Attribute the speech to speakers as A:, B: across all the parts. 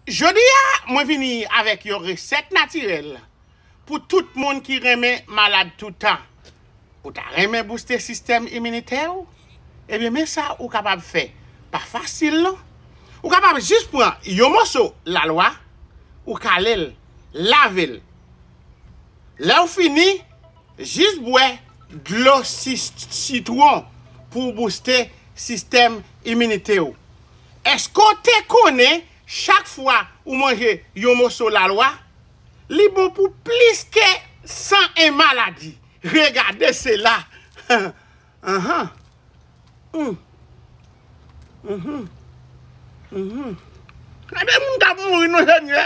A: Jodi a mwen vini avèk yon resèt natirèl pou tout moun ki renmen malad toutan. Ou ta renmen bouste sistèm iminitè ou? Ebyen men sa ou kapab fè, pa fasil non. Ou kapab jis pran yon moso lalwa, ou kale l, lave l. Lè ou fini, jis bwè dlo sitwon pou w bouste sistèm iminite ou. Èske w te konnen chak fwa ou manje yon moso lalwa, li bon pou plis ke 101 maladi? Regardez cela! Anhan! Humm! Humm! Humm! Gade moun k ap mouri non Senyè!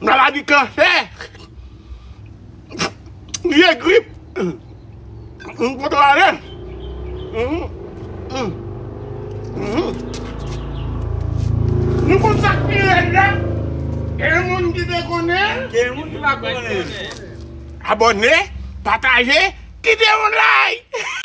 A: Maladi kansè Vye grip M poto ale Nou konn sak pi rèd la Gen moun ki te konnen Gen moun ki pa konnen
B: Abòne, pataje, kite
A: yon
B: like!